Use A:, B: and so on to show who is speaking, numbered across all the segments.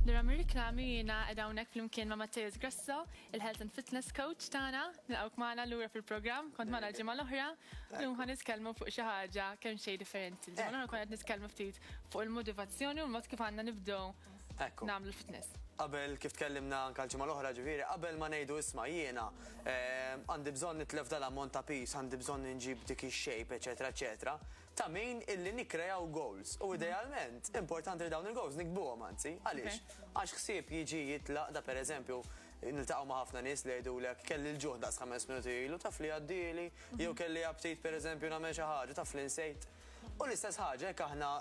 A: Nira mir-riklami jiena qed hawnhekk flimkien ma' Matteus Grasso, il-Health and Fitness Coach tagħna. Nilqgħuk magħna lura fil-programm, kont magħna l-ġimgħa l-oħra. Llum ħa nitkellmu fuq xi ħaġa kemm xejn differenti. Ġimgħa l-oħra kont qed nitkellmu ftit fuq il-motivazzjoni u l-mod kif għandna nibdew nagħmlu l-fitness. Qabel kif tkellimna
B: anke l-ġimgħa l-oħra ġifieri, qabel ma ngħidu isma' jiena għandi bżonn nitlef dal-ammont ta' piż, għandi bżonn inġib dik ix-shape, eċetera, eċetera. ta' min illi nikkrejaw goals u idealment importanti li dawn il-goals niktbuhom anzi. Għaliex? Għax ħsieb jiġi jitlaq ta' pereżempju niltaqgħu ma' ħafna nies li jgħidulek kelli l-ġuħ daqs ħames minuti ilu taf li għaddieli jew kelli aptit pereżempju nagħmel xi ħaġa taf li nsejt. U l-istess ħaġa jekk aħna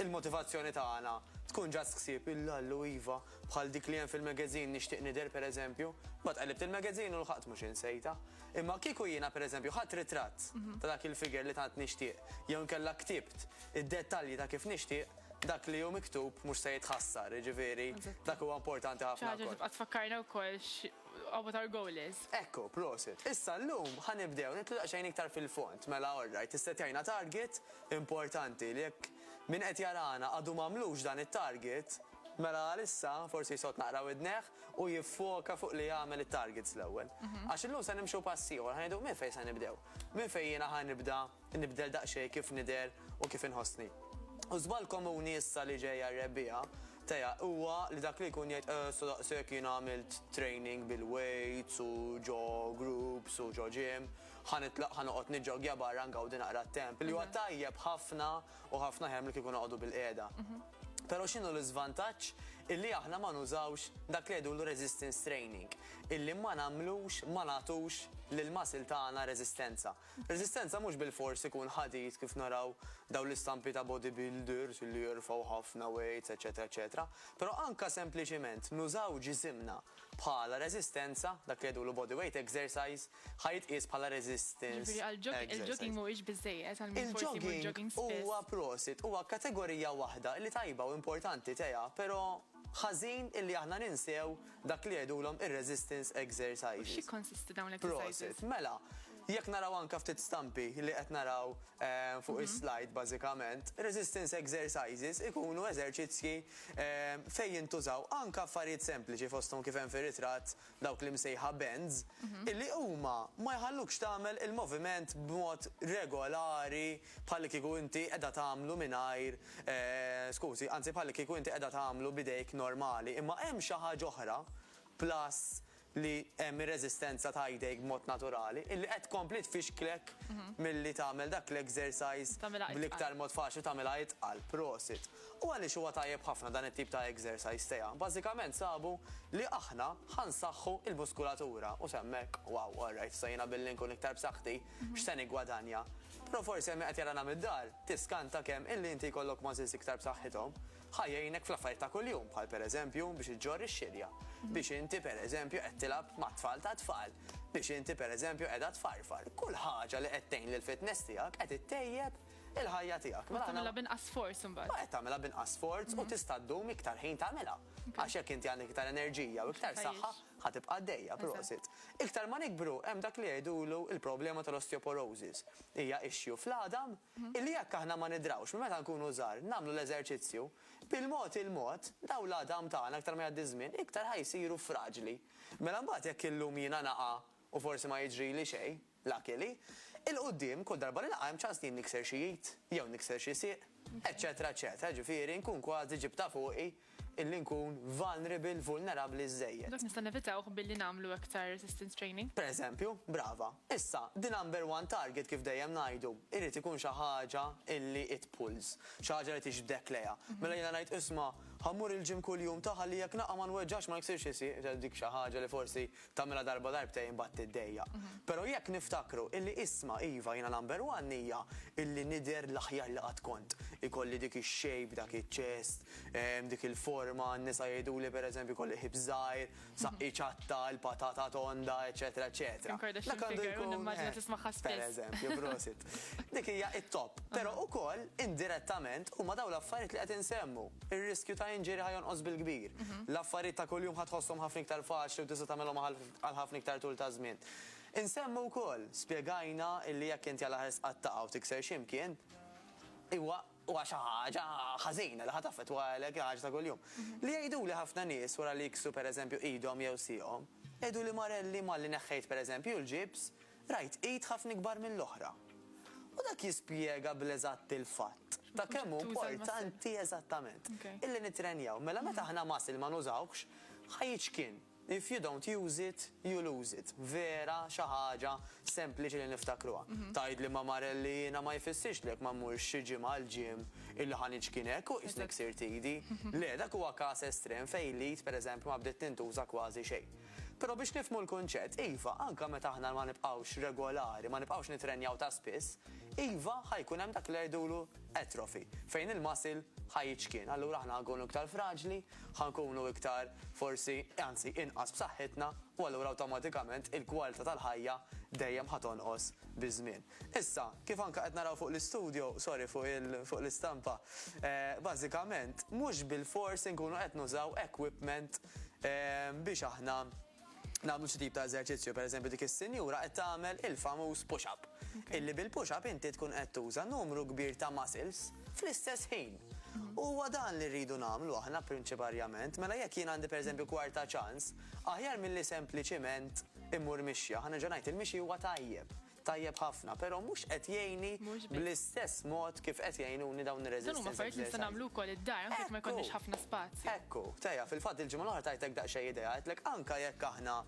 B: l-motivazzjoni tagħna tkun just ħsieb il-Allu iva bħal dik li hemm fil-magazine Nixtieq Nidher pereżempju, imbagħad qellibt il-magazine u lħaqt mhux insejtha. Imma kieku jiena pereżempju ħadt ritratt ta' dak il-figure li tant nixtieq jew inkella ktibt id-dettalji ta' kif nixtieq, dak li hu miktub mhux se jitħassar, jiġifieri dak huwa importanti ħafna wkoll. Xi ħaġa li tibqa' tfakkarna
A: wkoll x'what our goal is. Ekku, prosit.
B: Issa llum ħa nibdew nidħlu daqsxejn iktar fil-fond. Mela alright, issettjajna target importanti li jekk min qed jarana għadu m'għamlux dan it-target, Mela għalissa forsi jsott naqra widnejh u jiffoka fuq li jagħmel it-targets l-ewwel. Għax illum se nimxu pass ieħor, ħa ngħidu minn fejn se nibdew? Minn fejn jiena ħa nibda nibdel daqsxejn kif nidher u kif inħossni? U żball komuni issa li ġejja r-rebbiegħa teja huwa li dak li jkun jgħid eh sa daqshekk jiena għamilt training bil-weights u ġo groups u ġo gym, ħa nitlaq ħa noqgħod niġġoggja barra ngawdi naqra t-temp li huwa tajjeb ħafna u ħafna ħjar milli kieku noqogħdu bil-qiegħda. Però x'inhu l-iżvantaġġ illi aħna ma nużawx dak li jgħidulu resistance training, illi ma nagħmlux ma nagħtux lill-muscle tagħna reżistenza. Reżistenza mhux bilfors ikun ħadid kif naraw dawn l-istampi ta' bodybuilders illi jerfgħu ħafna weights, eċetera, eċetera. Però anke sempliċiment nużaw ġisimna bħala reżistenza, dak li jgħidulu body weight exercise, ħa jitqies bħala resistance Jiġifieri għal jogging, il-jogging
A: mhuwiex biżżejjed għal min forsi jmur jogging spiss. Il-jogging huwa prosit, huwa
B: kategorija waħda li tajba u importanti tea, però ħażin illi aħna ninsew dak li jgħidulhom ir-resistance exercises. U x'jikkonsisti dawn l-exercises?
A: Prosit, mela,
B: jekk naraw anke ftit stampi li qed naraw eh, fuq mhm. is-slide bażikament, resistance exercises ikunu eżerċizzji eh, fejn jintużaw anke affarijiet sempliċi fosthom kif hemm fir-ritratt dawk l-imsejħa bends, illi huma ma jħallukx tagħmel il-moviment b'mod regolari bħallikieku inti qiegħda tagħmlu mingħajr, skużi, anzi bħallikieku inti qiegħda tagħmlu b'idejk normali. Imma hemm xi ħaġa oħra, plus li hemm ir-reżistenza ta' idejk b'mod naturali, illi qed tkompli tfixklek milli tagħmel dak l-exercise bl-iktar mod faċli u tagħmilha itqal. Prosit. U għaliex huwa tajjeb ħafna dan it-tip ta' exercise teha? Bażikament sabu li aħna ħa nsaħħu l-muskulatura u s'hemm hekk, wow, all right, issa jiena billi nkun iktar b'saħħti, x'se niggwadanja? Però forsi hemm min qed jarana mid-dar, tiskanta kemm illi inti jkollok muscles iktar b'saħħithom ħa jgħinek fl-affarijiet ta' kuljum, bħal pereżempju biex iġġorr ix-xirja, biex inti pereżempju qed tilgħab mat-tfal tat-tfal, biex inti pereżempju qiegħda tfarfar. Kull ħaġa li qed tgħin lill-fitness tiegħek qed ittejjeb il-ħajja tiegħek. Mela tagħmilha b'inqas sforz
A: imbagħad. Qed tagħmilha b'inqas sforz
B: u mhm. tista' ddum iktar ħin tagħmilha. Għax jekk inti għandek iktar enerġija u iktar saħħa ħa tibqa' għaddejja prosit. Iktar ma nikbru hemm dak li jgħidulu il-problema tal-osteoporosis. Hija issue fl-għadam mhm. illi jekk aħna ma nidrawx minn meta nkunu żgħar nagħmlu l-eżerċizzju bil-mod il-mod daw l-għadam tagħna aktar ma jgħaddi żmien iktar ħajsiru fraġli. Mela mbagħad jekk illum jiena naqa' u forsi ma jiġri li xejn, Lucky li, 'il quddiem, kull darba li naqa' hemm ċans li jien nikser xi id, jew nikser xi sieq, eċċetera eċċetera, jiġifieri nkun kważi ġibtha fuqi illi nkun vulnerable, vulnerabbli, żżejjed. Dak nista' nevitawh billi
A: nagħmlu aktar resistance training? Per eżempju, brava.
B: Issa, the number one target kif dejjem ngħidu, irid ikun xi ħaġa illi it pulls, xi ħaġa li tiġbdek lejha. Mela jiena ngħid, isma', ħa mmur il-gym kuljum ta' ħalli jekk naqa' ma nweġġax, ma niksirx xi sieq, dik xi ħaġa li forsi Tagħmilha darba darbtejn imbagħad tiddejjaq. Però jekk niftakru illi isma' iva jiena number one hija illi nidher l-aħjar li qatt kont. Ikolli dik ix-shape, dak iċ-chest, dik il-forma, n-nisa jgħiduli per eżempju jkolli ħips żgħir, saqqi ċatta, il-patata tonda, eċċetera eċċetera. Dak għandu jkun. Kim Kardashian figure u nimmaġina tismagħha spiss. Per eżempju, prosit. Dik hija t-top. Però ukoll indirettament huma dawn l-affarijiet li qed insemmu. Ir-riskju ta' injury ħa jonqos bil-kbir. L-affarijiet ta' kuljum ħa tħosshom ħafna iktar faċli u tista' tagħmilhom għal ħafna iktar tul ta' żmien. Insemmu wkoll, spjegajna illi jekk inti għal aħer sqattaqha u tikser xi mkien, huwa huwa xi ħaġa ħażina li ħa taffettwalek il-ħaġa ta' kuljum. Li jgħiduli ħafna nies wara li jiksru pereżempju idhom jew sieqhom, jgħiduli Marelli malli neħħejt pereżempju l-ġibs, Rajt id ħafna ikbar mill-oħra. U dak jispjega bl-eżatt il-fatt ta' kemm hu importanti eżattament illi nittrenjaw. Mela meta aħna muscle ma nużawhx, ħa jiċkien. If you don't use it, you lose it. Vera xi ħaġa sempliċi li niftakruha. Tgħidli ma Marel li jiena ma jfissirx li jekk ma mmurx xi ġimgħa għall-gym illi ħa niċkien hekk u qisni ksirt idi. Le, dak huwa każ estrem fejn l-id pereżempju ma bdiet tintuża kważi xejn. Però biex nifhmu l-kunċett, iva, anke meta aħna ma nibqgħux regolari, ma nibqgħux nittrenjaw ta' spiss, iva, ħa jkun hemm dak li jgħidulu atrophy, fejn il-muscle ħa jiċkien. Allura aħna ħa nkunu iktar fraġli, ħa nkunu iktar forsi, anzi, inqas b'saħħitna, u allura awtomatikament il-kwalità tal-ħajja dejjem ħa tonqos biż-żmien. Issa, kif anke qed naraw fuq l-istudjo, sorry fuq il, fuq l-istampa, bażikament mhux bilfors inkunu qed nużaw equipment biex aħna nagħmlu xi tip ta' eżerċizzju. Per eżempju dik is-sinjura qed tagħmel il-famuż push up. Illi bil-push up inti tkun qed tuża numru kbir ta' muscles fl-istess ħin. U huwa dan li rridu nagħmlu aħna prinċiparjament. Mela jekk jien għandi per eżempju kwarta ċans, aħjar milli sempliċiment immur mixja. Ħa nerġa' ngħid, il-mixi huwa tajjeb. tajjeb ħafna, però mhux qed jgħinni bl-istess mod kif qed jgħinuni dawn ir-resistance exercises. Dan huma affarijiet li nista' nagħmlu wkoll
A: id-dar, anke jekk ma jkollniex ħafna spazju. Ekku, Tea, fil-fatt
B: il-ġimgħa l-oħra tajtek daqsxejn idea, għedtlek anke jekk aħna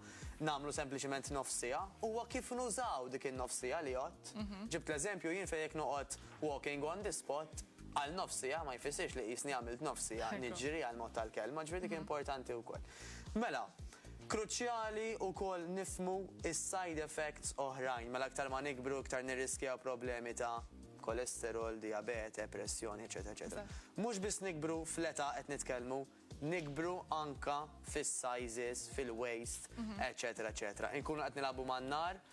B: nagħmlu sempliċement nofs siegħa, huwa kif nużaw dik in-nofs siegħa li għodt. Ġibt l-eżempju jien fejn jekk noqgħod walking on the spot għal nofs siegħa ma jfissirx li qisni għamilt nofs siegħa niġri għall-mod tal-kelma, ġifieri dik importanti wkoll. Mela, Kruċjali wkoll nifhmu s-side effects oħrajn, mela aktar ma nikbru iktar nirriskjaw problemi ta' kolesterol, dijabete, pressjoni, eċċetera eċċetera. Mhux biss nikbru fl-età qed nitkellmu, nikbru anke fis-sizes, fil-waist, eċċetera eċċetera. Inkunu qed nilagħbu man-nar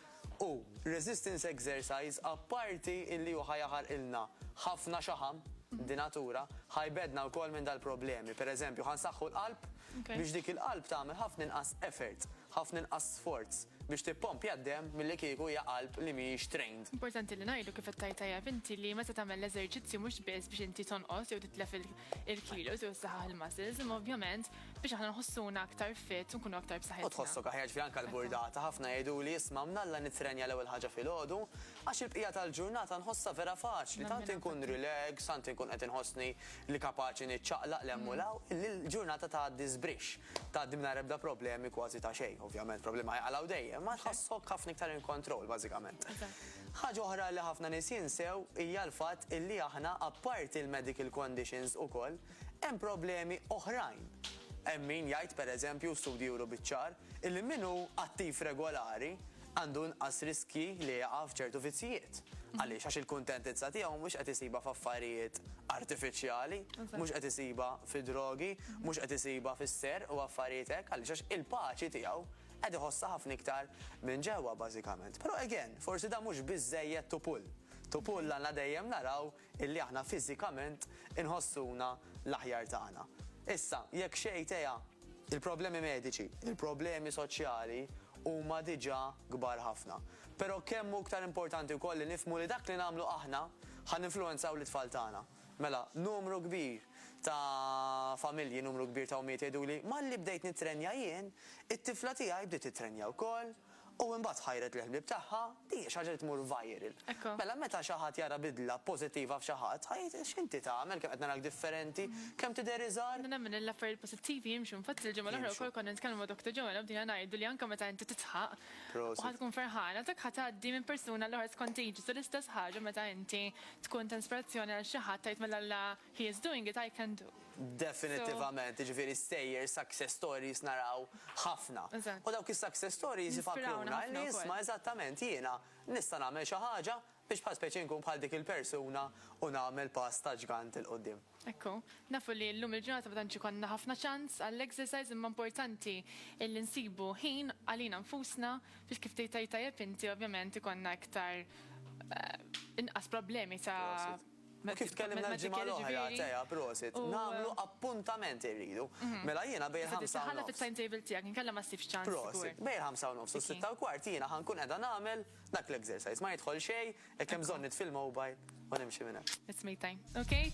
B: U resistance exercise apparti illi hu ħa jaħarqilna ħafna xaħam, di natura, ħa jbeddna wkoll minn dal-problemi. Per eżempju, ħa nsaħħu l-qalb biex dik il-qalb tagħmel ħafna inqas effort, ħafna inqas sforz biex tippompja d-demm milli kieku hija qalb li mhijiex trained. Importanti li ngħidu kif
A: qed tgħid tajjeb inti li meta tagħmel l-eżerċizzju mhux biss biex inti tonqos jew titlef il-kilos jew saħaħ il-muscles, imma ovvjament biex aħna nħossuna aktar fit u nkunu aktar b'saħħitna. U tħossok aħjar ġifieri anke
B: l-burdata ħafna jgħiduli isma' mnalla nittrenja l-ewwel ħaġa filgħodu għax il-bqija tal-ġurnata nħossha vera faċli, tant inkun relax, tant inkun qed inħossni li kapaċi niċċaqlaq l-hemm u l-hawn, li l-ġurnata tgħaddi żbrixx, tgħaddi mingħajr ebda problemi kważi ta' xejn. Ovvjament problemi ħajqalgħu dejjem, imma tħossok ħafna iktar in control bażikament. Ħaġa oħra li ħafna nies jinsew hija l-fatt illi aħna apparti l-medical conditions ukoll hemm problemi oħrajn. Hemm min jgħid pereżempju u studji juru biċ-ċar illi min hu attiv regolari għandu inqas riskji li jaqa' f'ċertu vizzjijiet. Għaliex? Għax il-kuntentizza tiegħu mhux qed isibha f'affarijiet artifiċjali, mhux qed isibha fid-drogi, mhux qed isibha fis-serq u affarijiet hekk. Għaliex? Għax il-paċi tiegħu Qed iħossha ħafna iktar minn ġewwa bażikament. Però again, forsi dan mhux biżżejjed to pull. To pull għandna dejjem naraw illi aħna fiżikament inħossuna l-aħjar tagħna. Issa, jekk xejn teha, il-problemi mediċi, il-problemi soċjali huma diġà kbar ħafna. Però kemm hu iktar importanti wkoll li nifhmu li dak li nagħmlu aħna ħa ninfluwenzaw lit-tfal tagħna. Mela, numru kbir ta' familji, numru kbir ta' ommijiet jgħiduli, malli bdejt nittrenja jien, it-tifla tiegħi bdiet tittrenja wkoll, u imbagħad ħajret lill-ħbieb tagħha, din hija xi ħaġa li tmur viral. Mela, meta xi ħadd jara bidla pożittiva f'xi ħadd, ħa jgħid, x'inti tagħmel, kemm qed narak differenti, kemm tidher iżgħar. Nemmen li l-affarijiet pożittivi
A: jimxu, infatti l-ġimgħa l-oħra wkoll konna nitkellmu ma' Doctor Joanna u bdejna ngħidu li anke meta inti titħaq u ħa tkun ferħana, dak ħa tgħaddi minn persuna għall-oħra, it's contagious, u l-istess ħaġa meta inti tkun ta' inspirazzjoni għal xi ħadd tgħid mela la he is doing it, I can do. Definittivament,
B: jiġifieri stejjer, success stories naraw ħafna. U dawk is-success stories ifakruna li isma' eżattament jiena nista' nagħmel xi ħaġa biex bħal speċi nkun bħal dik il-persuna u nagħmel pass ta' ġgant 'il quddiem. Ekku, nafu
A: li llum il-ġurnata ma tantx ikollna ħafna ċans għall-exercise imma importanti illi nsibu ħin għalina nfusna biex kif tgħid tgħid tajjeb inti ovvjament ikollna iktar inqas problemi ta' Prosit. U kif tkellimna
B: l-ġimgħa l-oħra, Tea, prosit, nagħmlu appuntament irridu. Mela jiena bejn il-ħamsa u nofs. Iżda titħalla fit-timetable tiegħek
A: inkella ma ssibx ċans żgur. Prosit, bejn il-ħamsa u nofs
B: u s-sitta u kwart jiena ħa nkun qiegħda nagħmel dak l-exercise. Ma jidħol xejn, jekk hemm bżonn nitfi
A: l-mobile
B: u
A: nimxi minn
B: hemm. It's me
A: time.
B: Ok?